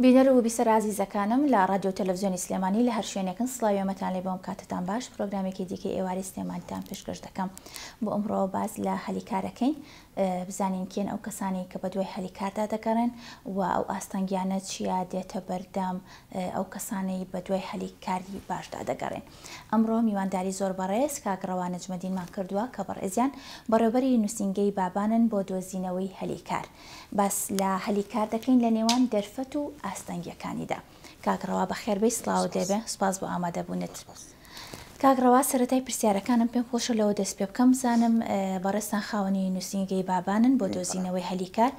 بینەر و بیسەر ئازیزەکانم لە ڕادیۆ و تەلەڤزیۆنی سلێمانی لە هەر شوێنێکن سڵاوی ئێمەتان لێ بەوەم کاتتان باش پرۆگرامێکی دیکەی ئێوارەی سلێمانیتان پێشکەش دەکەم بۆ ئەمڕۆ باس لە هەلی کارەکەین بزانین کێن ئەو کەسانی کە بە دوای هەلی کاردا دەگەڕێن و ئەو ئاستەنگیانە چیا دێتە بەردەم ئەو کەسانەی بە دوای هەلی کاری باشدا دەگەڕێن ئەمڕۆ میوانداری زۆر بەڕێز کاک ڕەوا نەجمەدینمان کردووە کە بەڕێزیان بەڕێوبەری نووسینگەی بابانن بۆ دۆزینەوەی هەلی کار باس لە هەلی کار دەکەین لە نێوان دەرفەت و ئاستەنگیەکانیدا. کاک ڕەوا بەخێربێی سڵاوت لێ بێ سوپاس بۆ ئامادەبونت. کاک ڕەوا سەرەتای پرسیارەکانم پێم خۆشە لەوە دەست پێ بکەم بزانم بەڕێزتان خاوەنی نوسینگەی بابانن بۆ دۆزینەوەی هەلی کار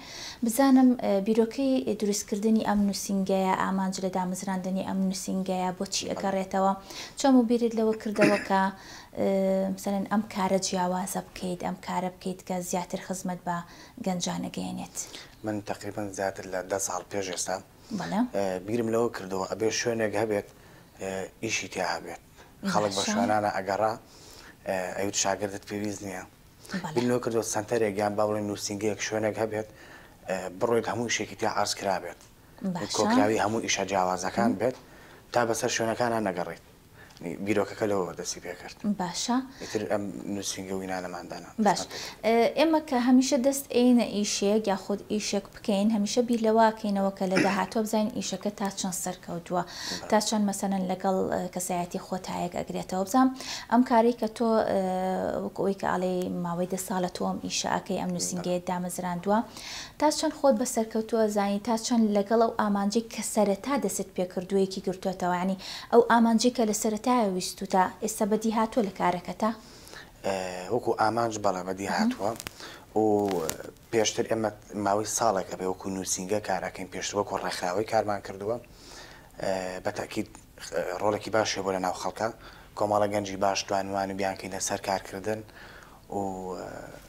بزانم بیرۆکەی دروست کردنی ئەم نوسینگەیە ئامانج لە دامەزراندنی ئەم نوسینگەیە بۆ چی ئەگەڕێتەوە چۆموو بیرت لەوە کردەوە کە مثلەن ئەم کارە جیاوازە بکەیت ئەم کارە بکەیت کە زیاتر خزمەت بە گەنجان ئەگەیەنێت. من تەقریبەن زیاتر لە دە ساڵ پێش ئێستا بیرم لەوە کردەوە ئەبێت شوێنێک هەبێت ئیشی تیا هەبێت خەڵک بە شوێنانە ئەگەڕا ئەوت شاگردت پێویست نییە بیر لەوە کردەوە سەنتەرێک یان با بڵێن نووسینگەیەک شوێنێک هەبێت بڕۆیت هەموو شێکی تیا ئارز کرابێت کۆکراوی هەموو ئیشە جیاوازەکان بێت تا بەسەر شوێنەکانە نەگەڕیت بیرۆکەکە لەوەوە دەستی پێ کرد. باشە. ئیتر ئەم نووسینگە و وینانەمان دانا. باش. ئێمە کە هەمیشە دەست ئێینە ئیشێک یاخود ئیشێک بکەین، هەمیشە بیر لەوە ئەکەینەوە کە لە داهاتووە بزانین ئیشەکە تا چەند سەرکەوتووە، تا چەند مەسەلەن لەگەڵ کەسایەتی خۆ تایەک ئەگرێتەوە. بزانم ئەم کارەی کە تۆ وەکو ئەوەی کە ئەڵێی ماوەی دە ساڵە تۆ ئەم ئیشە ئەکەی، ئەم نووسینگەیەت دامەزراندووە، تا چەند خۆت بە سەرکەوتوو ئەزانی تا چەند لەگەڵ ئەو ئامانجەی کە سەرەتا دەستت پێ کردووە یەکی گرتووەتەوە یانی ئەو ئامانجەی کە لە سەرەتایەوە ویستووتە ئێستا بەدی هاتووە لە کارەکەتا؟ وەکوو ئامانج بەڵێ بەدی هاتووە و پێشتر ئێمە ماوەی ساڵێک ئەبێ وەکوو نووسینگە کار ئەکەین پێشتر وەکوو ڕێکخراوەی کارمان کردووە بە تەئکید ڕۆڵێکی باش هەبوو لە ناو خەڵکە کۆمەڵە گەنجی باش توانیومانە بیانکەینە سەر کارکردن و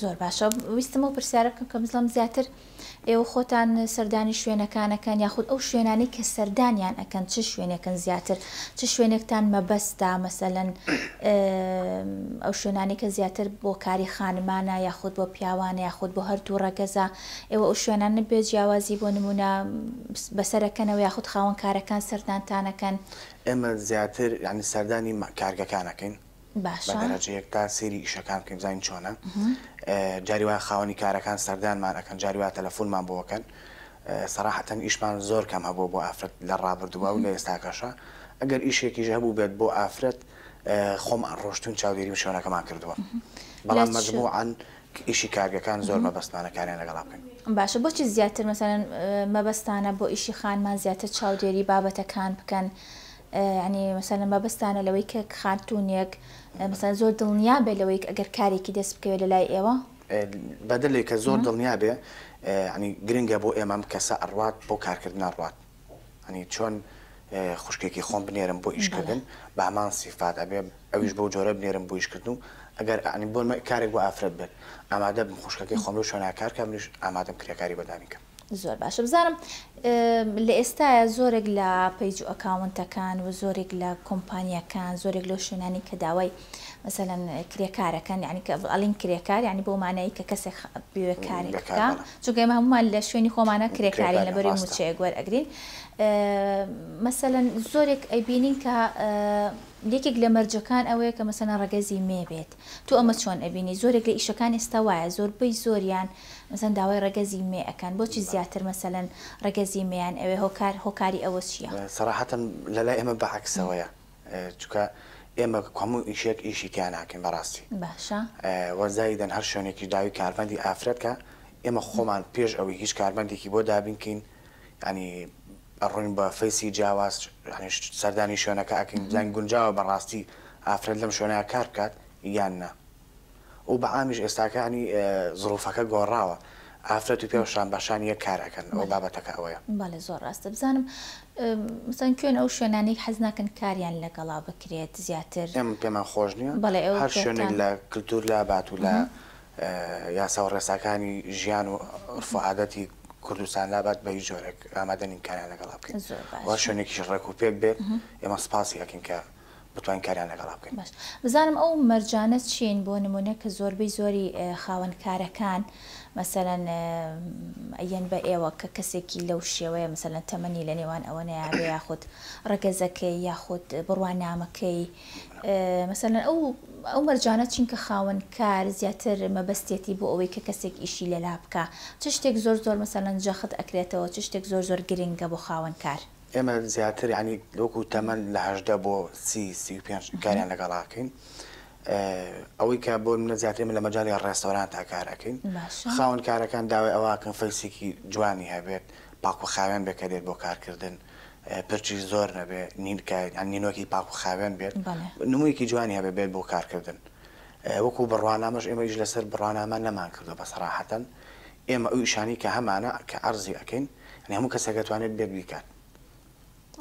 زۆر باشە ویستم ئەو پرسیارە بکەم کە بزڵم زیاتر ئێوە خۆتان سەردانی شوێنەکان ئەکەن یاخود ئەو شوێنانەی کە سەردانیان ئەکەن چ شوێنێکن زیاتر چ شوێنێکتان مەبەستە مەسەلەن ئەو شوێنانی کە زیاتر بۆ کاری خانمانە یاخود بۆ پیاوانە یاخود بۆ هەردوو ڕەگەزە ئێوە ئەو شوێنان نبێ جیاوازی بۆ نمونە بەسەرەکەنەوە یاخود خاوەن کارەکان سەردانتانەکەن ئێمە زیاتر یعنی سەردانی کارگەکانەکەین باشە. بە دەرەجەیەک تا سەیری ئیشەکان بکەین بزانین چۆنە جاری وایە خاوەنی کارەکان سەردانمان ئەکەن جاری وایە تەلەفونمان بۆ ئەکەن سەراحەتەن ئیشمان زۆر کەم هەبووە بۆ ئافرەت لە ڕابردووە و لە ئێستاکەشە ئەگەر ئیشێکیش هەبوو بێت بۆ ئافرەت خۆم ڕۆشتون چاودێریم شوێنەکەمان کردووە بەڵام مەجموعان ئیشی کارگەکان زۆر مەبەستمانە کاریان لەگەڵا بکەن باشە بۆچی زیاتر مەسەن مەبەستانە بۆ ئیشی خانمان زیاتر چاودێری بابەتەکان بکەن یانی مەسەلەن مەبەستتانە لەوەی کە خاتوونێک مەسەلەن زۆر دڵنیا بێت لەوەی ئەگەر کارێکی دەست بکەوێت لە لای ئێوە؟ بەدلێ کە زۆر دڵنیا بێ یانی گرنگە بۆ ئێمە ئەم کەسە ئەڕوات بۆ کارکردن ئەڕوات یانی چۆن خوشکێکی خۆم بنێرم بۆ ئیشکردن بە هەمان سیفات ئەبێ ئەویش بەو جۆرە بنێرم بۆ ئیشکردن و ئەگەر یانی بۆ کارێک بۆ ئافرەت بێت ئامادەبم خوشکەکەی خۆم لەو شوێنە کار کەم منیش ئامادەم کرێکاری بە دانی کەم. زۆر باشە بزانم لە ئێستاە زۆرێک لە پەیج و ئەکاونتەکان و زۆرێک لە کۆمپانیەکان زۆرێک لەو شوێنانی کە داوای مەسەەن کرێکارەکەن یعنی کە ئەلین کرێکار ینی بۆ مانایی کە کەسێک بێکارێکەکە چونگە هەمومان لە شوێنی خۆمانە کرێکاری لە بەری موچەیە گوەر ئەگرین مەسەەن زۆرێک ئەیبینین کە یەکێک لە مەرجەکان ئەوەیە کە مەسەنە ڕگەزی مێ بێت تو ئەمە چۆن ئەبینی زۆرێک لە ئیشەکان ئێستا وایە زۆربەی زۆریان مەسەلەن داوای ڕەگەزی مێ ئەکەن بۆچی زیاتر مەسەلەن ڕەگەزی مێیان ئەوێ هۆکار هۆکاری ئەوە چیە؟ سەراحەتەن لەلای ئێمە بە عەکسەوەیە چونکە ئێمە هەموو ئیشێک ئیشی تیا ناکەین بەڕاستی باشە وە زایدەن هەر شوێنێکیش داوی کارمەندی ئافرەت کا ئێمە خۆمان پێش ئەوەی هیچ کارمەندێکی بۆ دابین کەین یانی ئەڕۆین بە فەیسی جیاواز یانی سەردانی شوێنەکە ئەکەین بزانین گونجاوە بەڕاستی ئافرەت لەم شوێنە کار بکات یان نا و بە عامیش ئێستاکانی زروفەکە گۆڕاوە ئافرەت و پیاو شان بە شان یەک کار ئەکەن ئەوە بابەتەکە ئەوەیە. بەڵێ زۆر ڕاستە بزانم مەسەن کوێن ئەو شوێنانەی حەز ناکەن کاریان لەگەڵا بکرێت زیاتر ئێمە پێمان خۆش نیە بەڵێ ئەو هەر شوێنێک لە کلتور لا بات و لە یاسا و ڕێساکانی ژیان و عورف و عادەتی کوردستان لا بات بە هیچ جۆرێک ئامادە نین کاریان لەگەڵا بکەین زۆر باش و هەر شوێنێکیش ڕێک و پێک بێت ئێمە سوپاسی ئەکەین کە بتوانین کاریان لەگەڵا بکەین. باش بزانم ئەو مەرجانە چین بۆ نمونە کە زۆربەی زۆری خاوەن کارەکان مەسەلەن ئەیەن بە ئێوە کە کەسێکی لەو شێوەیە مەسەلەن تەمەنی لە نێوان ئەوەنەیە بێ یاخود ڕەگەزەکەی یاخود بڕوانامەکەی مەسەلەن ئەو ئەو مەرجانە چین کە خاوەن کار زیاتر مەبەستێتی بۆ ئەوەی کە کەسێک ئیشی لەلا بکا چ شتێک زۆر زۆر مەسەلەن جەخت ئەکرێتەوە چ شتێک زۆر زۆر گرنگە بۆ خاوەن کار؟ ئێمە زیاتر یانی وەکو تەمەن لە هەژدە بۆ سی سی و پێنج کاریان لەگەڵ ئاکەین ئەوەی کە بۆ منە زیاتر من لە مەجای ڕێستۆران تا کار ئەکەین خاون کارەکان داوای ئەوواکەن فەیسێکی جوانی هەبێت پاکو خاوێن بێکە دێت بۆ کارکردن پرچی زۆر نەبێ نینکە نینۆکی پاکو خاوێن بێت نموویەکی جوانی هەبێ بێت بۆ کارکردن وەکو بڕوانامەش ئێمەیش لەسەر بڕوانامە نەمان کردو بە سەراحەتەن ئێمە ئەو ئیشانەی کە هەمانە کە عەرزی ئەکەین یانی هەموو کەسێک ئەتوانێت بێت بیکات.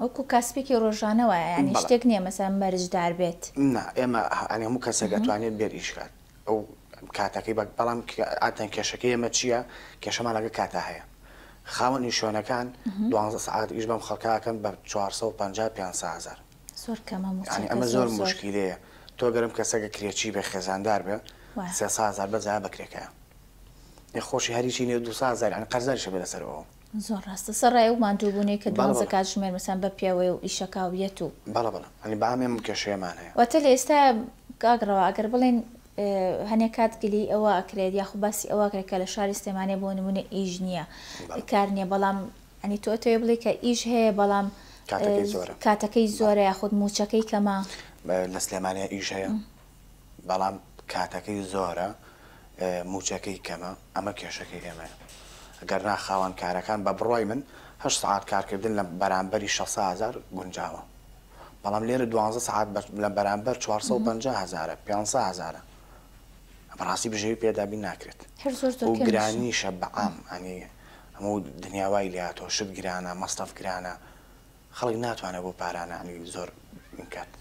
وەکو کاسپێکی ڕۆژانە وایە یانی شتێک نییە مەسەلەن مەرجدار بێت؟ نا ئێمە یانی هەموو کەسێک ئەتوانێت بێت ئیش کات ئەو کاتەکەی بەک بەڵام ئاتەن کێشەکەی ئێمە چییە کێشەمان لەگە کاتا هەیە خاوەنی شوێنەکان دوانزە سەعات ئیش بەم خەڵکە ئەکەن بە چوار سەد و پەنجا پێنج سە هەزار زۆر کەمە موچەکە یانی ئەمە زۆر زۆر موشکیلەیە تۆ گەرم کەسەگە کرێچی بێ خێزاندار بێ سێ سە هەزار بەس جا بە کرێکەیە. خۆشی هەر هیچی نیە دوو ساڵ زار یانی قەرزاریش هەبێ لەسەر ئەوە. زۆر ڕاستە سەڕای ئەو ماندووبوونەی کە بەڵێ دوانزە بەڵێ. کاتژمێر مەسەن بە پێوەیە و ئیشەکە و یەت و. بەڵێ بەڵێ یانی بەام ئێمە ئەم کێشەیەمان هەیە. واتە لە ئێستا کاک ڕەوا ئەگەر بڵێین هەنێ کات گلەیی ئەوە ئەکرێت یاخو باسی ئەوە ئەکرێت کە لە شاری سلێمانێ بۆ نموونە ئیش نیە بەڵێ. کار نیە بەڵام یانی تۆ ئەتەوێ بڵێی کە ئیش هەیە بەڵام کاتەکەی زۆرە کاتەکەی بەڵێ. زۆرە یاخود مووچەکەی کەمە. لە سلێمانێ ئیش هەیە بەڵام کاتەکەی زۆرە مووچەکەی کەمە ئەمە کێشەکەی ئێمەیە گەرنا خاوەن کارەکان بە بڕوای من هەشت سەعات کارکردن لە بەرامبەری شەش سەد هەزار گونجاوە بەڵام لێرە دوانزە سەعات لە بەرامبەر چوار سەد و پەنجا هەزارە پێنج سەد هەزارە بەڕاستی بژێوی پێ دابین ناکرێت هەر زۆر زۆر و گرانیشە بەعام ئەنی هەموو دنیا وای لێ هاتووە شت گرانە مەسرەف گرانە خەڵک ناتوانێت بۆ پارانانی زۆر بکات.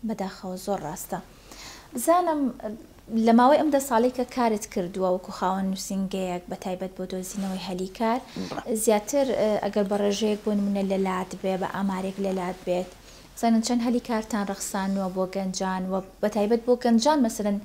بەداخەوە زۆر ڕاستە بزانم لە ماوەی ئەم دە ساڵەی کە کارت کردووە وەکو خاوەن نووسینگەیەک بە تایبەت بۆ دۆزینەوەی هەلی کار زیاتر ئەگەر بە ڕێژەیەک بۆ نمونە لە لات بێ بە ئامارێک لە لات بێت بزانن چەند هەلی کارتان ڕەخسانووە بۆ گەنجان و بە تایبەت بۆ گەنجان مەسەرەن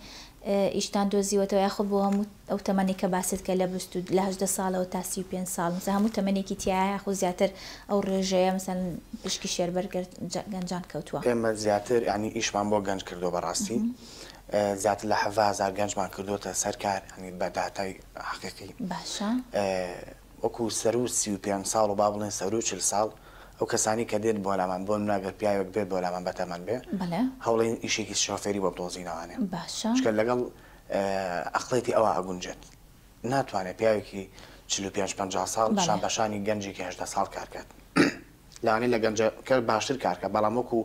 ئیشتان دۆزیوەتەوە یاخود بۆ هەموو ئەو تەمەنەی کە باست کرد لە بیست و لە هەژدە ساڵەوە تا سی و پێنج ساڵ مەسەن هەموو تەمەنێکی تیایە یاخود زیاتر ئەو ڕێژەیە مەسەن پشکی شێربەر گەر گەنجان کەوتووە؟ ئێمە زیاتر یانی ئیشمان بۆ گەنج کردووە بەڕاستی زیاتر لە حەڤازار گەنجمان کردووەتە سەر کار یانی بە داتای حەقیقی باشە. وەکو سەروو سی و پێنج ساڵ و با بڵێین سەروو چل ساڵ ئەو کەسانەی کە دێن بۆلامان بۆ نمونە گەر پیاوێک بێت بۆلامان بەتەمەن بێ هەوڵێن ئیشێکی شۆفێری بۆ بدۆزینەوانێ چونکە لەگەڵ ئەقڵێتی ئەوا ئەگونجێت ناتوانێت پیاوێکی چل و پێنج پەنجا ساڵ شان بەشانی گەنجێکی هەژدە ساڵ کار کات. لانی لە گەنجەکە باشتر کار کە بەڵام وەکو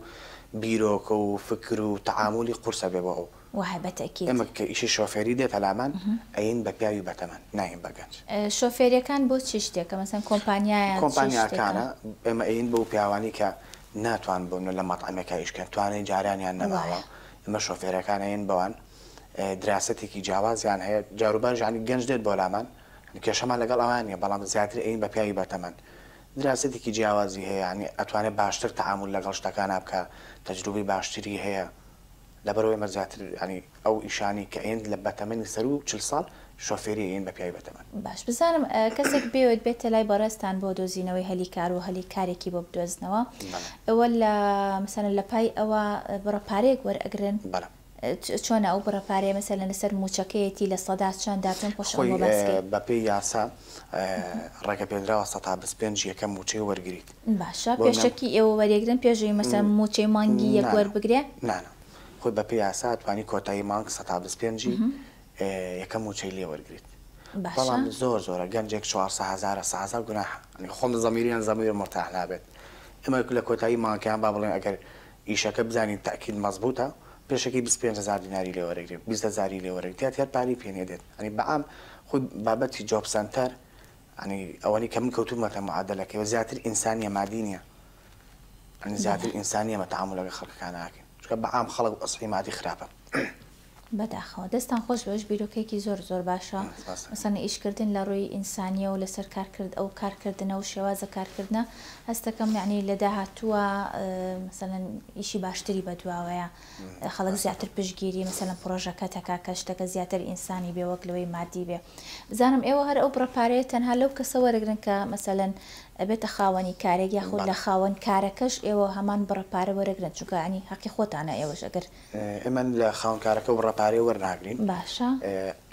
بیرۆکە و فکر و تەعامولی قورسە بێ بۆ ئەو وەها بە تەئکید. ئێمە کە ئیشی شۆفێری دێتە لامان ئەیین بە پیاوی بەتەمەن نایین بە گەنج. شۆفێریەکان بۆ چ شتێکە مەسەن کۆمپانیایە چ شتێکە؟ کۆمپانیاکانە ئێمە ئەیین بەو پیاوانی کە ناتوان بۆ لە مەتعەمێکا ئیش کەن توانای جاریانیان نەماوە ئێمە شۆفێرەکان ئەیین بەوان دراسەتێکی جیاوازیان هەیە جاروبار یانی گەنج دێت بۆ لامان کێشەمان لەگەڵ ئەوان نیە بەڵام زیاتر ئەیین بە پیاوی بەتەمەن دراسەتێکی جیاوازی هەیە یانی ئەتوانێ باشتر تەعامول لەگەڵ شتەکانا بکا تەجروبەی باشتری هەیە لەبەرئەوەی ئێمە زیاتر یانی ئەو ئیشانی کە ئەیەن لە بەتەمەنی سەرو چل ساڵ شۆفێری ئەیەن بە پیاوی بەتەمەن. باش بزانم کەسێک بێوێت بێتە لای بەڕێزتان بۆ دۆزینەوەی هەلی کار و هەلی کارێکی بۆ بدۆزنەوە بەڵێ. ئێوە لە مەسەلەن لەپای ئەوە بڕە پارەیەک وەرئەگرن؟ بەڵێ. چۆنە ئەو بڕە پارەیە مەسەلەن لەسەر مووچەکەیەتی لە سەدا چەندە پێم خۆشە ئەوە باس کەی. خۆی بە پێی یاسا ڕێگە پێدراوە سەتا بیست پێنج یەکەم مووچەی وەرگریت. باشە پێشەکی ئێوە وەریەگرن پێش ئەوی مەسەلەن مووچەی مانگی یەک وەربگرێ؟ نا نا خۆی بە پێی یاسا ئەتوانی کۆتایی مانگ سەتا بیست پێنجی یەکەم مووچەی لێ وەرگریت بەڵام زۆر زۆرە گەنجێک چوار سە هەزارە سە هەزار گوناحە خۆم زەمیریان زەمیر مورتاح نابێت ئێمە لە کۆتایی مانگیان با بڵێن ئەگەر ئیشەکە بزانین تەئکیل مەزبوتە پێشەکی بیست پێنج هەزار دیناری لێ وەرەگرێ بیست هەزاری لێ وەرە گتیات هەر پارەی پێ نیە دێت یانی بەعام خود بابەتی جۆب سەنتەر یانی ئەوەنەی کە من کەوتومەتە معادەلەکەی و زیاتر ئینسانیە مادی نیە یانی زیاتر ئینسانیە مە تەعامولە گە خەلکەکانا ئەکەین چونکە بەعام خەڵک ئەسڵی مادی خراپە بەداخەوە. دەستتان خۆش بێژ بیرۆکەیەکی زۆر زۆر باشە مەسەنی ئیش کردن لە ڕووی ئینسانیەو لەسەر کار کرد ئەو کار کردنە و شێوازە کار کردنە هەستەکەم یەعنی لە داهاتووە مەسەلەن ئیشی باشتری بە دواوەیە خەڵک زیاتر پشگیری مەسەلەن پرۆژەکە تەکا کە شتەکە زیاتر ئینسانی بێ وەک لەوەی مادی بێ بزانم ئێوە هەر ئەو بڕە پارەیە تەنها لەو کەسە وەرەگرن کە مەسەلەن ئەبێتە خاوەنی کارێک یاخود لە خاوەن کارەکەش ئێوە هەمان بڕە پارە وەرەگرن چونکە عنی هەقی خۆتانە ئێوەش ئەگەر ئێمە لە خاوەنکارەکە بڕە پارەی وەرناگرین. باشە.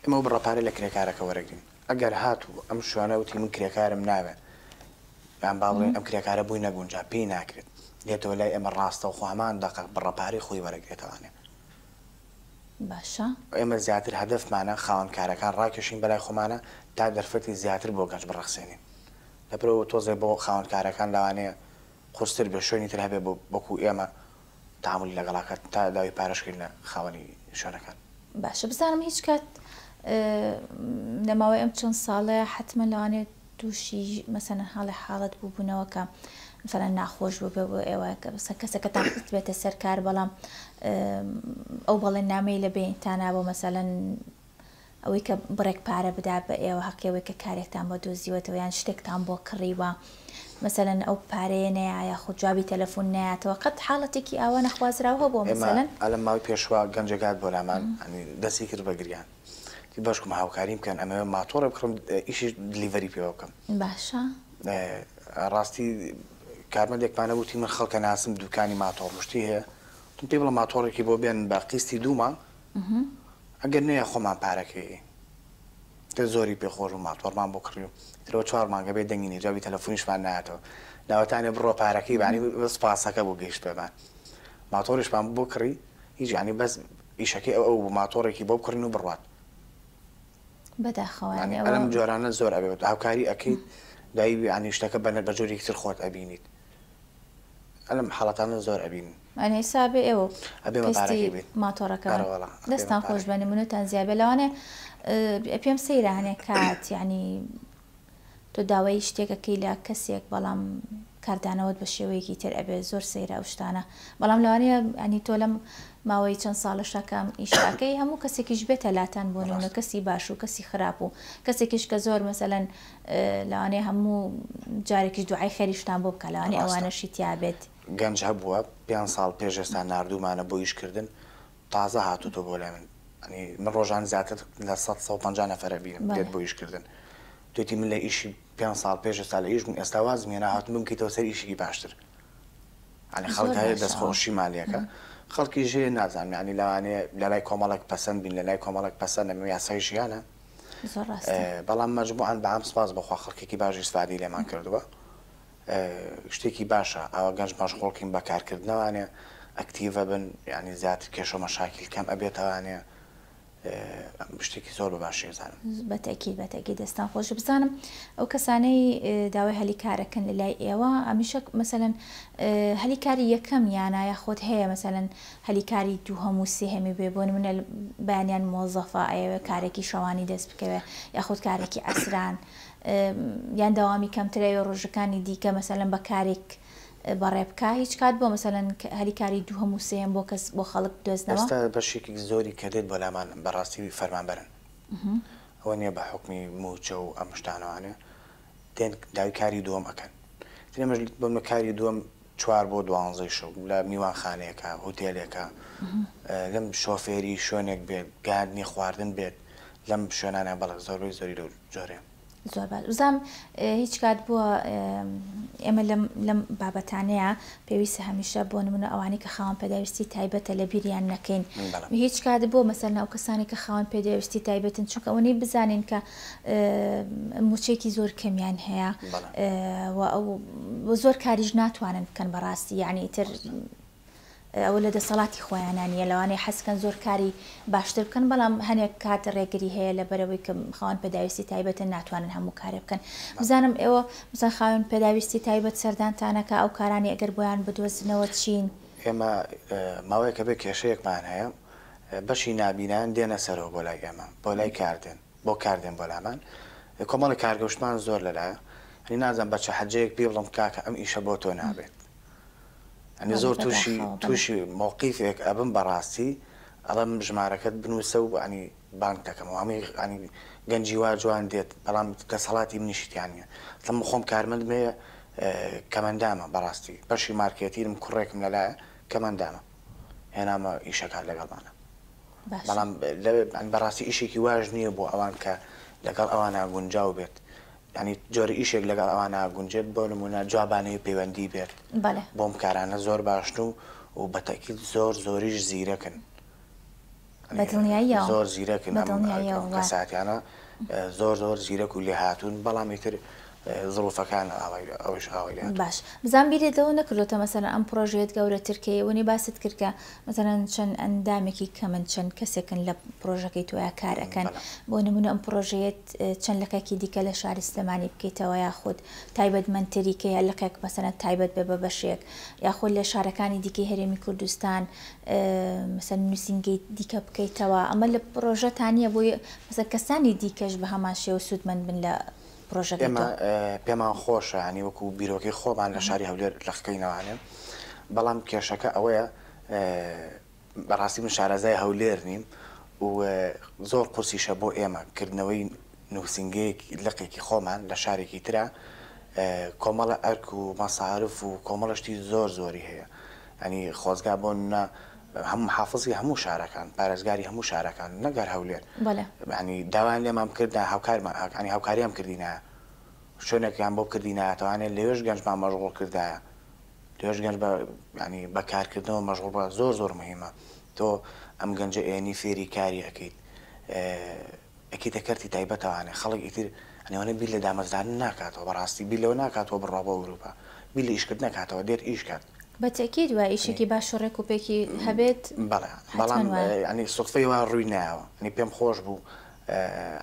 ئێمە بڕە پارەی لە کرێکارەکە وەرەگرین. ئەگەر هاتوو ئەم شوانە وتی من کرێکارم ناوێ یان با بڵێن ئەم کرێکارە بووی نەگونجا پێی ناکرێت دێتەوە لای ئێمە ڕاستە خۆ هەمان دەقە بڕە پارەی خۆی وەرەگرێتەوانێ. باشە. ئێمە زیاتر هەدەفمانە خاوەنکارەکان ڕاکێشین بەلای خۆمانە تا دەرفەتی زیاتر بۆ گەنج بڕەخسێنین. لەبەرئەوە تۆزێ بۆ خاوەنکارەکان لەوانەیە قورستر بێ شوێنی تر هەبێ بۆ وەکوو ئێمە تەعامولی لەگەڵ ئەکات تا داوای پارەش کرد لە خاوەنی شوێنەکان. باشە بزانم هیچ کات لە ماوەی ئەم چەند ساڵەیە حەتمەن لەوانەیە تووشی مەسەلەن حاڵی حاڵەت بووبوونەوە کە مەسەلەن ناخۆش بوو بێ بۆ ئێوە کە مەسەلەن کەسەکەتان خستبێتە سەر کار بەڵام ئەو بەڵێننامەی لە بەینتانا بۆ مەسەلەن ئەوەی کە بڕێک پارە بدا بە ئێوە هەقی ئەوەی کە کارێکتان بۆ دۆزیوەتەوە یان شتێکتان بۆ کڕیوە مەسەلەن ئەو پارەیە نەیە یاخود جوابی تەلەفون نەیاتەوە قەت حاڵەتێکی ئاوا نەخوازراو هەبووە مەسەلەن؟ ئێمە ئەلە ماوەی پێشوە گەنجێک هات بۆ لامان ئەنی دەستی کرد بە گریان تی باشکم هاوکاریم بکەن ئەمەوێ ماتۆڕێ بکڕم ئیشی دلیڤەری پێوە بکەم باشە ڕاستی کارمەندێکمانە وتی من خەڵکە ناسم دوکانی ماتۆڕ مشتی هەیە تم پێی بڵە ماتۆڕێکی بۆ بێن بە قیستی دوو مانگ ئەگەر نەیە خۆمان پارەکەی تر زۆری پێ خۆش بوو ماتۆڕمان بۆ کڕی و ئیتر بۆ چوار مانگە بێ دەنگی نیە جوابی تەلەفونیشمان نایەتەوە لاوەتانێ بڕە پارەکەی بانی بەس پاسەکە بۆ گەیشت پێمان ماتۆڕیشمان بۆ کڕی هیچ یانی بەس ئیشەکەی ئەو ئەو بوو ماتۆڕێکی بۆ بکڕین و بڕوات بەداخەوە یانی ئەوە ئەم جۆرانە زۆر ئەبێت هاوکاری ئەکەیت دایبی یانی شتەکە بەنە بە جۆرێکی تر خۆت ئەبینیت. ئەلەم حاڵەتانە زۆر ئەبین. ئەنی ئیسا بێ ئێوە و ئەبێ مە پارە کێ بین. ماتۆڕەکە ئەرە وەڵا ئەبێ مە دەستان پارە خۆش بێ کێ. نمونەتان زیا بێ لەوانەیە پێم سەیرە هەنێ کات یانی تۆ داوای شتێک ئەکەی لە کەسێک بەڵام کاردانەوەت بە شێوەیەکی تر ئەبێ زۆر سەیرە ئەو شتانە بەڵام لەوانەیە یانی تۆ لەم ماوەی چەند ساڵەشا کە ئەم ئیشە ئەکەی هەموو کەسێکیش بێتە لاتان بۆ نمونە ڕاستە. کەسی باش و کەسی خراپ و کەسێکیش کە زۆر مەسەلەن لەوانەیە هەموو جارێکیش دوعای خێریشتان بۆ بکات لەوانەیە ئەوانەشی تیا بێت. گەنج هەبووە پێنج ساڵ پێش ئێستا ناردوومانە بۆ ئیش کردن تازە هاتۆتۆ بۆ لای من ئەنی من ڕۆژانی زیاتر لە سەد سەد و پەنجا نەفەر ئەبینم دێت بۆ ئیش کردن توێتی من لە ئیشی پێنج ساڵ پێش ئێستا لە ئیش بووم ئێستا وازم هێنا هاتووم بمکەیتەوە سەر ئیشێکی باشتر ئەنی زۆر خەڵک هەیە باشە ئەوە دەستخۆشیمان لەکە خەڵکیش هەیە نازانم یانی لەوانەیە لەلای کۆمەڵێک پەسەند بین لەلای کۆمەڵێک پەسەند نەبن یاسای ژیانە. زۆر ڕاستە بەڵام مەجموعەن بەعام سوپاس بۆ خوا خەڵکێکی باش ئیسفادەی لێمان کردووە شتێکی باشە ئەوە گەنج مەشغوڵکین بە کارکردنەوانێ ئەکتیڤە بن یعنی زیاتر کێشە و مەشاکیل کەم ئەبێتەوانێ شتێکی زۆر بە باشی ئەزانم بە تەئکید بە تەئکید دەستان خۆش بزانم ئەو کەسانەی داوای هەلی کارەکەن لە لای ئێوە هەمیشە مەسەلەن هەلی کاری یەکەم یانە یاخود هەیە مەسەلەن هەلی کاری دووهەم و سێهەمی بێ بۆ نمونە بەیانیان مۆزەفە ئەیەوێ کارێکی شەوانی دەست بکەوێ یاخود کارێکی عەسران یان دەوامی کەمتر ئەوێ ڕۆژەکانی دیکە مەسەلەن بە کارێک بەڕێ بکە هیچ کات بۆ مەسەلەن هەلی کاری دووهەم و سێهەم بۆ کەس بۆ خەڵک دۆزنەوە؟ ئێستا بەشێکی زۆری کە دێت بۆ لامان بەڕاستی فەرمانبەرن ئەوە نیە بە حوکمی موچە و ئەم شتانەوانێ دێن داوی کاری دووەم ئەکەن ئێمەش بۆ کاری دووەم چوار بۆ دوانزەی شەو لە میوانخانەیەکە، هوتێلێکە، لەم شۆفێری شوێنێک بێت، گاردنی خواردن بێت، لەم شوێنانە بەڵێ زۆربەی زۆری لەو جۆرەیە. زۆر باش. بزانم هیچ کات بووە ئێمە لەم بابەتانەیە پێویستە هەمیشە بۆ نموونە ئەوانەی کە خاوەن پێداویستی تایبەتە لەبیریان نەکەین، هیچ کات بووە مەسەلەن ئەو کەسانێک کە خاوەن پێداویستی تایبەتن چونکە ئەوە نەی بزانین کە موچەیەکی زۆر کەمیان هەیە و زۆر کاریش ناتوانن بکەن بەڕاستی یعنی ئیتر ئەوە لە دەسەڵاتی خۆیانانیە لەوانەیە حەزکەن زۆر کاری باشتر بکەن بەڵام هەنێک کات ڕێگری هەیە لە بەرەوەی کە خاوەن پێداویستی تایبەتە ناتوانن هەموو کارێ بکەن بزانم ئێوە بزە خاوەن پێداویستی تایبەت سەردانتانەکە ئەو کارانی ئەگەر بۆیان بدۆزنەوە چین ئێمە ماوەیەکە بێ کێشەیەکمان هەیە بەشی نابینایان دێنە سەرەوە بۆ لای ئێمە بۆ لای کار دێن بۆ کار دێن بۆ لامان کۆمەڵی کارگەوشتمان زۆر لەلایە هەنی نازم بە چە حەجەیەک پێ بڵم کاکە ئەم ئیشە بۆ تۆ نابێت ئەنی زۆر تووشی تووشی مۆقیفێک ئەبم بەڕاستی ئەڵم ژمارەکەت بنووسە و ئەنی بانک دەکەم و هەمووی ئەنی گەنجی وا جوان دێت بەڵام دەسەڵاتی منیشتیانە تەم خۆم کارمەند مێ کەمەندامە بەڕاستی بەشی مارکێتیرم کوڕێکم لەلایە کەمەندامە هێنامە ئیشە کار لەگەڵمانا بەڵام بەڕاستی ئیشێکی واش نییە بۆ ئەوان کە لەگەڵ ئەوان ناگونجاو بێت ینی جۆری ئیشێک لەگەڵ ئەوان ناگونجێت بۆ نمونە جوابانەی پەیوەندی بێت بۆم کارانە زۆر باشن و و بەتەکیل زۆر زۆریش زیرەکن بە دڵنیاییەوە زۆر زیرەکن بە دڵنیاییەوە ئەم کەساتیانە زۆر زۆر زیرەک و لێهاتوون بەڵام ئیتر زڵوفەکان ئاوای ئەوش ئاوای لێهاتوون. باش بزان بیرت لەوە نەکردۆتە مەسەلەن ئەم پڕۆژەیەت گەورەتر کە ئێوە نی باست کرد کە مەسەلەن چەند ئەندامێکی کەمن چەند کەسێکن لە پڕۆژەکەی تۆیا کار ئەکەن بەڵێ بۆ نموونە ئەم پڕۆژەیەت اه، چەند لقێکی دیکە لە شاری سلێمانی بکەیتەوە یاخود تایبەتمەندتری کە یە لقێک مەسەلەن تایبەت بێ بە بەشێک یاخود لە شارەکانی دیکەی هەرێمی کوردستان مەسەلەن نوسینگەی دیکە بکەیتەوە ئەمە لە پرۆژەتا نیە بۆ مەسەلەن کەسانی دیکەش بە هەمان شێوە سودمەند بن لە پرۆژەکەی تۆ؟ ئێمە پێمان خۆشە یانی وەکو بیرۆکەی خۆمان لە شاری هەولێر لەخکەینەوە ئەنێم بەڵام کێشەکە ئەوەیە بەڕاستی من شارەزای هەولێر نیم و زۆر قورسیشە بۆ ئێمە کردنەوەی نووسینگەیەک لقێکی خۆمان لە شارێکی ترە کۆمەڵە ئەرک و مەسارف و کۆمەڵە شتی زۆر زۆری هەیە ئەنی خۆزگا بۆ نە هەم حافزی هەموو شارەکان پارێزگاری هەموو شارەکان نەگەر هەولێر ینی داوایان لێمان کردا هاوکارمان ئاکانی هاوکاریان کردینە شوێنێکیان بۆ کردیناتوانێت لەوێش گەنجمان مەژغوڵ کردایە لەوێش گەنج بە ینی بەکارکردنەوە مەژغوڵ بە زۆر زۆر مهمە تۆ ئەم گەنجە ئێنی فێری کاری ئەەکەیت یەکێتیە کەرتی تایبەتە وانە خەڵک ئیتر ئەنێوەنە بیر لە دامەزرانن ناکاتەوە بەڕاستی بیر لەوە ناکاتەوە بڕوا بۆ ئەوروپا بیر لە ئیشکردن نەکاتەوە دێت ئیش کات. بە تەئکید وایە ئیشێکی باش و ڕێک و پێکی هەبێت بەڵێ بەڵام یانی سوتفەی وا ڕووی نایەوە یانی پێم خۆش بوو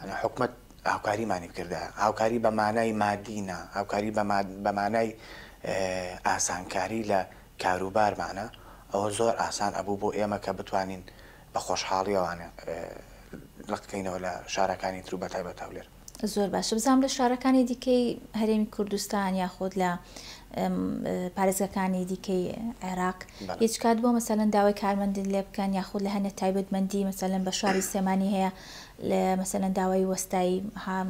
یانی حکومەت هاوکاریمانی بکردایە هاوکاری بە مانای مادی نا هاوکاری بە مانای ئاسانکاری لە کاروبارمانە ئەوە زۆر ئاسان ئەبوو بۆ ئێمە کە بتوانین بە خۆشحاڵیەوە لق کەینەوە لە شارەکانی تر و بە تایبەت هەولێر. زۆر باشە بزانم لە شارەکانی دیکەی هەرێمی کوردستان یاخود لە پارێزگەکانی دیکەی عێراق هیچ کات بۆ مەسەلەن داوای کارمەندن لێ بکەن یاخود لە هەنێ تایبەتمەندی مەسەلەن بە شاری سێمانی هەیە لە مەسەلەن داوای وەستای هام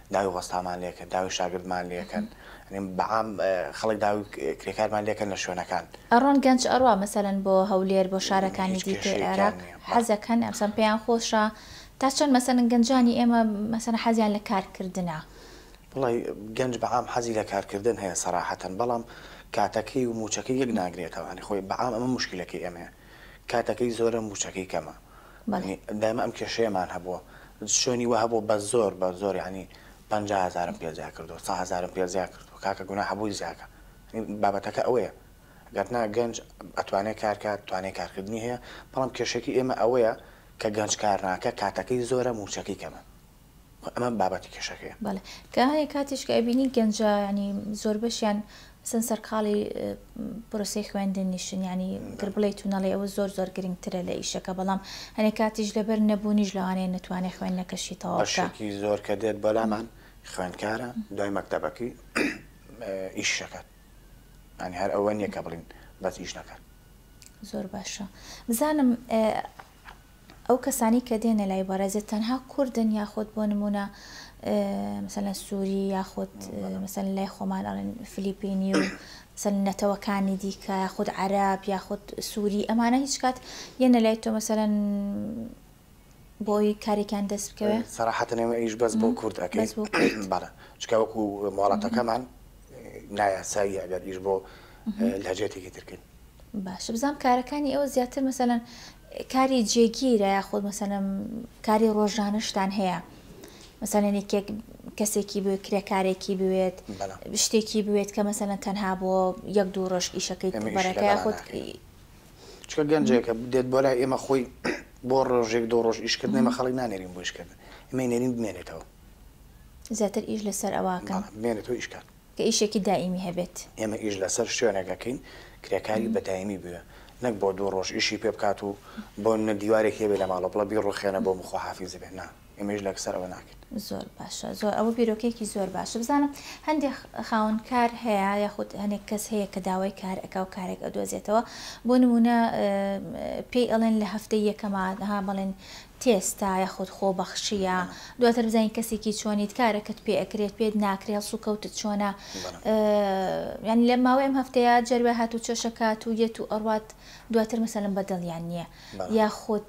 داوی ڕۆستامان لێکەن داوی شاگردمان لێکەن ینی بە عام خەڵک داوی کرێکارمان لێکەن لە شوێنەکان. ئەڕۆن گەنج ئەڕوا مەسەلەن بۆ هەولێر بۆ شارەکانی دیکەی عێراق حەزەکەن مەسەلەن پێیان خۆشە تا چەند مەسەلەن گەنجانی ئێمە مەسەلەن حەزیان لە کار کردنە. وەڵا گەنج بە عام حەزی لە کار کردن هەیە سەراحەتەن بەڵام کاتەکەی و موچەکەی یەک ناگرێتەوە ینی خۆی بە عام ئەمە موشکیلەکەی ئێمەیە کاتەکەی زۆرە موچەکەی کەمە بەڵێ. دایمە ئەم کێشەیەمان هەبووە شوێنی وە هەبوو بە زۆر بە زۆر یانی پەنجا هەزارم پێ زیا کردوە سە هەزارم پێ زیا کردوە کاکە گوناحە بۆی زیاکە بابەتەکە ئەوەیە گەرنا گەنج ئەتوانێ کارکات توانێ کارکردنی هەیە بەڵام کێشەکی ئێمە ئەوەیە کە گەنج کارناکە کاتەکەی زۆرە موچەکەی کەمە. و ئەمە بابەتی کێشەکەیە. بەڵێ کە هەنێ کاتیش کە ئەبینی گەنجە یانی زۆر بەشیان سن سەرقاڵی پرۆسەی خوێندن نیشن یانی گر بڵێیت و نەڵێ ئەوە زۆر زۆر گرنگترە لە ئیشەکە بەڵام هەنێ کاتیش لەبەر نەبوونیش لەوانەیە نەتوانێ خوێندنەکەشی تەواو بکا بەشێکی زۆر کە دێت بەلامان خوێندکارە دوای مەکتەبەکەی ئیش نەکات یانی هەر ئەوە نییە کە بڵین بەس ئیش نەکات. زۆر باشە بزانم ئەو کەسانەی کە دێنە لای بەڕێزت تەنها کوردن یاخود بۆ نمونە مثلەن سوری یاخود مثلەن لای خۆمان ئەڵێن فلیپینی و مثلەن نەتەوەکانی دیکە یاخود عەرەب یاخود سوری ئەمانە هیچ کات یەنە لای تۆ مثلەن بۆی کارێکیان دەست بکەوێ سەراحەتەن ئێمە ئیش بەس بۆ کورد ئەکەین بەڵێ چونکە وەکو مۆڵەتەکەمان نایاساییە ئەگەر ئیش بۆ لەهجەیەکی ترکەین باشە بزانم کارەکانی ئێوە زیاتر مەسەلەن کاری جێگیرە یاخود مەسەلەم کاری ڕۆژانەشتان هەیە مەسەلەن یەکێک کەسێکی بێت کرێکارێکی بوێت شتێکی بوێت کە مەسەلەن تەنها بۆ یەک دوو ڕۆژ ئیشەکەی بەرەکە یاخود چکە گەنجێکە دێت بۆ لای ئێمە خۆی بۆ ڕۆژێک دو ڕۆژ ئیشکردن ئمە خەڵک نانێرین بۆ ئیشکردن ئمە نێرین بمێنێتەوە زیاتر ئیش لەسەر ئەوواکە بمێنێتەوە ئیشکات کە ئیشێکی دائیمی هەبێت. ئێمە ئیش لەسەر شوێنێک ئەکەین کرێکاری بە دایمی بوێ نەک بۆ دوو ڕۆژ ئیشی پێ بکات و بۆ نمونە دیوارێک هەیە بێ لە ماڵەوە بڵێ بیڕوخێنە بۆم و خواحافیز بێ نا ئێمە ئیش لەکسەر ئەوە ناکەین. زۆر باشە زۆر ئەوە بیرۆکەیەکی زۆر باشە بزانم هەندێک خاوەن کار هەیە یاخود هەنێک کەس هەیە کە داوای کار ئەکا و کارێک ئەدۆزێتەوە بۆ نمونە پێی ئەڵێن لە هەفتەی یەکەما ها بەڵێن تێستا یاخود خۆبەخشیە دواتر بزانیت کەسێکی چۆنیت کارەکەت پێ ئەکرێت پێت ناکرێ هەڵسوکەوتت چۆنە یانی لە ماوەی ئەم هەفتەیە جەروێ هات و چێشەکات و یەت و ئەڕات دواتر مەسەلم بەدڵیان نییە یاخود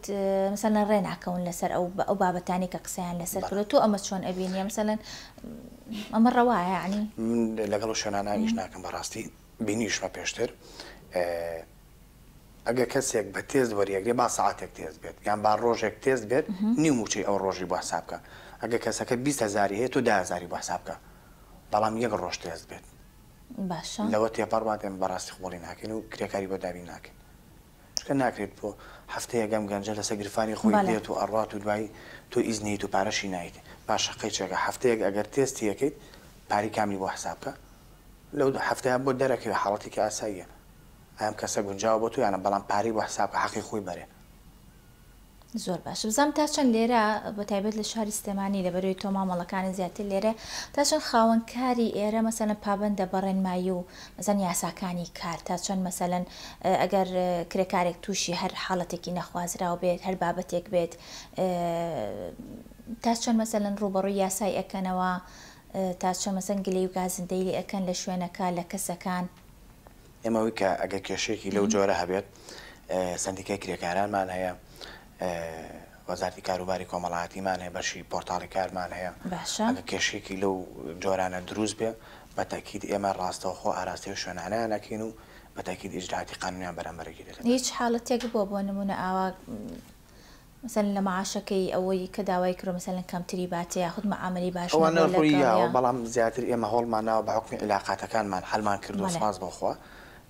مەسەلەن ڕێ ناکەون لەسەر ئەو ئەو بابەتانی کە قسەیان لەسەر کرد تۆ ئەمە چۆن ئەبینیە مەسەلەن ئەمە ڕەوایانی من لەگەڵ شوێنانانیش ناکەم بەڕاستی بینیشمە پێشتر ئەگەر کەسێک بە تێست وەریەگرێت با سەعاتێک تێست بێت یان با ڕۆژێک تێست بێت نیو مووچەی ئەو ڕۆژی بۆ حساب بکە ئەگەر کەسەکە بیست هەزاری هەیە تۆ دە هەزاری بۆ حساب بکە بەڵام یەک ڕۆژ تێست بێت باشە لەوە تێپەڕ بات ئێمە بەڕاستی قبوڵی ناکەین و کرێکاری بۆ دابین ناکەین چونکە ناکرێت بۆ هەفتەیە گەم گەنجە لەسەر گرفانی خۆی بەڵێ. دێت و ئەڕات و دوایی تۆ ئیز نیت و پارەشی نایت با شەقەی چێگە هەفتەیەک ئەگەر تێستی یەکەیت پارەی کاملی بۆ حساب بکە لەو هەفتەیە بۆت دەرەکەوێت حاڵەتێکی ئاساییە. ئایا ئەم کەسە گونجاوە بۆ تۆ یانە بەڵام پارەی بۆ حساب کە حەقی خۆی بەرێ. زۆر باش بزانم تا چەند لێرە بە تایبەت لە شاری سلێمانی لە بەروی تۆ مامەڵەکانت زیاتر لێرە تا چەند خاوەن کاری ئێرە مەسەلەن پابەندە بە ڕێنمایی و مەسەلەن یاساکانی کار تا چەند مەسەلەن ئەگەر کرێکارێک تووشی هەر حاڵەتێکی نەخوازراو بێت هەر بابەتێک بێت تا چەند مەسەلەن ڕووبەڕووی یاسای ئەکەنەوە تا چەند مەسەلەن گلەی و گازندەی لێ ئەکەن لە شوێنەکە لە کەسەکان ئێمە ویکە ئەگەر کێشەیەکی لەو جۆرە هەبێت سندیکای کرێکارانمان هەیە وەزارتی کاروباری کۆمەڵاتیمان هەیە بەشی پۆرتاڵی کارمان هەیە ئەگە کێشێکی لەو جۆرانە دروست بێ بە تاکیید ئێمە ڕاستەوخۆ ئاراستەی شوێنانیانەکەین و بە تاکیید ئیجراتی قانونیان بەرەمبەرگی دەکەن هیچ حاڵەتێک بۆ بۆ نمونە ئاوا مەسەلەن لە معاشەکەی ئەوەی کە داوای کردوە مەسەلەن کەمتری باتێ یاخود معامەلەی باش ئەوانە نەبوە روی یاوە لەگەڵیا. بەڵام زیاتر ئێمە هەوڵمان ناوە بە حوکمی عیلاقاتەکانمان حەلمان کردوە بەڵێ. سوپاس بۆ خوا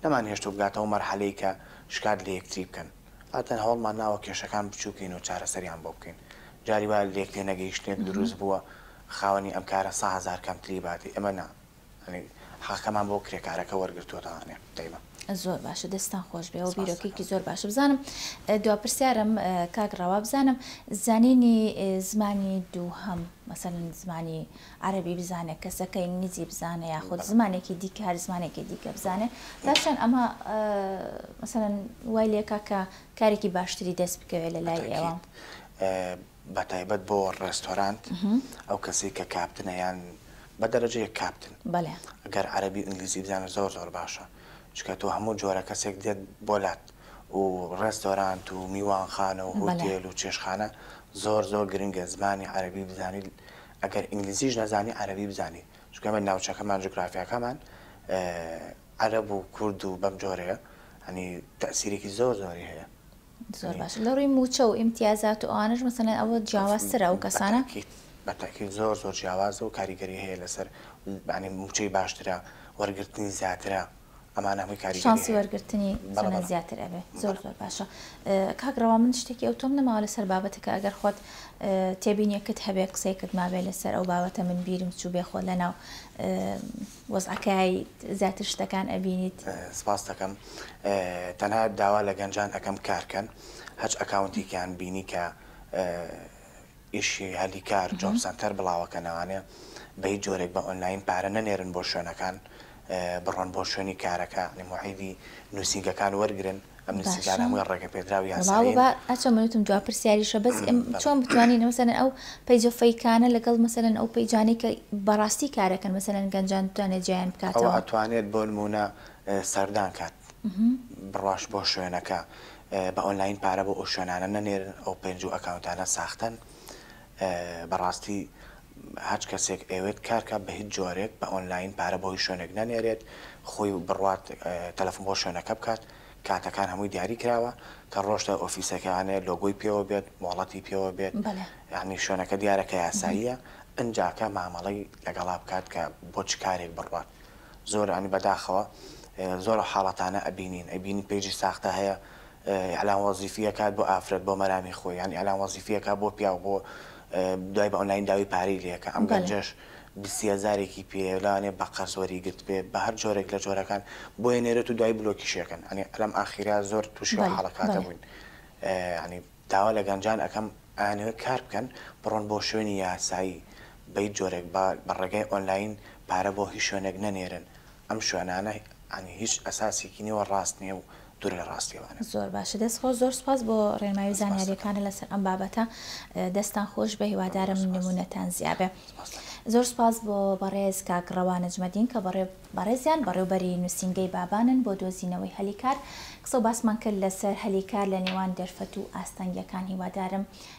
نەمان هێشتوە بگاتە ئەو مەرحەلەی کە شکات لە یەکتری بکەن عادەتەن هەوڵمان ناوە کێشەکان بچوکین و چارەسەریان بۆ بکەین جاری وایە لە لێک تێنەگەیشتنێک دروست بوە خاوەنی ئەم کارە سەهەزار کەمتری باتێ ئێمە نا یانی حەقەمان بۆ کرێکارەکە وەرگرتووەتەوە ئەنێ دەیمە. زۆر باشە دەستان خۆش بێەوە بیرۆکێکی زۆر باشە بزانم دو پرسیارم کاک ڕەوا بزانم زانینی زمانی دووهەم مەسەن زمانی عربی بزانێت کەسەکە ئینگلیزی بزانێ یاخود زمانێکی دیکە هەر زمانێکی دیکە بزانێ پاشان ئەمە مەسەن وای لێکا کە کارێکی باشتری دەست بکەوێت لە لای ئێوە بەتایبەت بۆ ڕێستۆرانت ئەو کەسەی کە کاپتنە یان بە دەرەجە یەک کاپتن گەر عەرەبی و ئینگلیزی بزانێت زۆر زۆر باشە چونکە تۆ هەموو جۆرە کەسێک دێت بۆ لات و ڕێستۆرانت و میوانخانە و هۆتێل و چێشخانە زۆر زۆر گرنگە زمانی عەرەبی بزانیت ئەگەر ئینگلیزیش نەزانی عەرەبی بزانیت چونکە ئێمە ناوچەکەمان جوگرافیاکەمان عەرەب و کورد و بەم جۆرەیە یانی تەئسیرێکی زۆر زۆری هەیە. زۆر باشە لە ڕووی مووچە و ئیمتیازات و ئەوانەش مەسەلەن ئەوە جیاوازترە ئەو کەسانە؟ بەتەئکید زۆر زۆر جیاوازە و کاریگەری هەیە لەسەر یانی مووچەی باشترە وەرگرتنی زیاترە ئەمانە هەمووی کاریگەری هەیە شانسی وەرگرتنی زۆر زیاتر ئەبێ زۆر زۆر باشە کاک ڕەوا من شتێکی ئەو تۆم نەماوە لەسەر بابەتەکە ئەگەر خۆت تێبینیەکەت هەبێ قسەیەکت مابێ لەسەر ئەو بابەتە من بیرم چوو بێ خۆ لەناو وەزعەکەی زیاتر شتەکان ئەبینیت. سپاست دەکەم تەنها داوا لە گەنجان ئەکەم کار کەن هەچ ئەکاونتێکیان بینی کە ئیشی هەلی کار جۆب سەنتەر بڵاوەکەنەوانێ بە هیچ جۆرێک بە ئۆنلاین پارە نەنێرن بۆ شوێنەکان بڕۆن بۆ شوێنی کارەکە نموحیدی نووسینگەکان وەرگرن. ئەمنیستی جاران هەموویان ڕێگەپێدراو یاسایین. بەڵا وەبا ئەچۆ من وتم جواب پرسیاریشە بەس ئێم چۆن بتوانین مەسەلەن ئەو پەیجە فەیکانە لەگەڵ مەسەلەن ئەو پەیجانەی کە بەڕاستی کارەکەن مەسەلەن گەنجان بتوانێت جیایان بکاتەوە. ئەوە ئەتوانێت بۆنموونە سەردان کات بڕاش بۆ شوێنەکە بە ئۆنلاین پارە بۆ ئەو شوێنانە نەنێرن ئەو پەیج و ئەکاونتانە ساختەن بەڕاستی هەچ کەسێک ئەیەوێت کار کات بە هیچ جۆرێک بە ئۆنلاین پارە بۆ هیچ شوێنێک نەنێرێت خۆی بڕوات تەلەفۆن بۆ شوێنەکە بکات کاتەکان هەمووی دیاری کراوە کە ڕۆشتە ئۆفیسەکانێ لۆگۆی پێوە بێت مۆڵەتی پێوە بێت یانی شوێنەکە دیارە کە یاساییە ئنجاکە مامەڵەی لەگەڵا بکات کە بۆ چ کارێک بڕوات زۆر عنی بەداخەوە زۆر حاڵەتانە ئەبینین ئەبینی پەیجی ساختە هەیە ئیعلان وەزیفی ئەکات بۆ ئافرەت بۆ مەرامی خۆی یان ئیعلان وەزیفی ئەکات بۆ پیاو بۆ دوای بە ئۆنلاین داوی پارەی لێ ئەکا ئەم گەنجەش بیست هەزارێکی پێ لەوانەیە بە قەرز وەری گرتبێ بە هەر جۆرێک لە جۆرەکان بۆ ئەنێرێت و دوای بلۆکیشی ئەکەن ئەنی لەم ئاخیرە زۆر تووشی ئەو حاڵەکاتە بووین ئەنی داوا لە گەنجان ئەکەم ئەیانەوێت کار بکەن بڕۆن بۆ شوێنی یاسایی بە هیچ جۆرێک بە ڕێگای ئۆنلاین پارە بۆ هیچ شوێنێک نەنێرن ئەم شوێنانە یانی هیچ ئەساسێکی نیە و ڕاست نیە و دوور لە ڕاستیەوانە. زۆر باشە دەست خۆش زۆر سوپاس بۆ ڕێنمایی و زانیاریەکانە لەسەر ئەم بابەتە دەستان خۆش بێ هیوادارم نمونەتان زیا بێ زۆر سوپاس بۆ بەڕێز کاک ڕەوا نەجمەدین کە بەڕێزیان بەڕێوبەری نوسینگەی بابانن بۆ دۆزینەوەی هەلی کار قسە و باسمان کرد لەسەر هەلی کار لە نێوان دەرفەت و ئاستەنگیەکان هیوادارم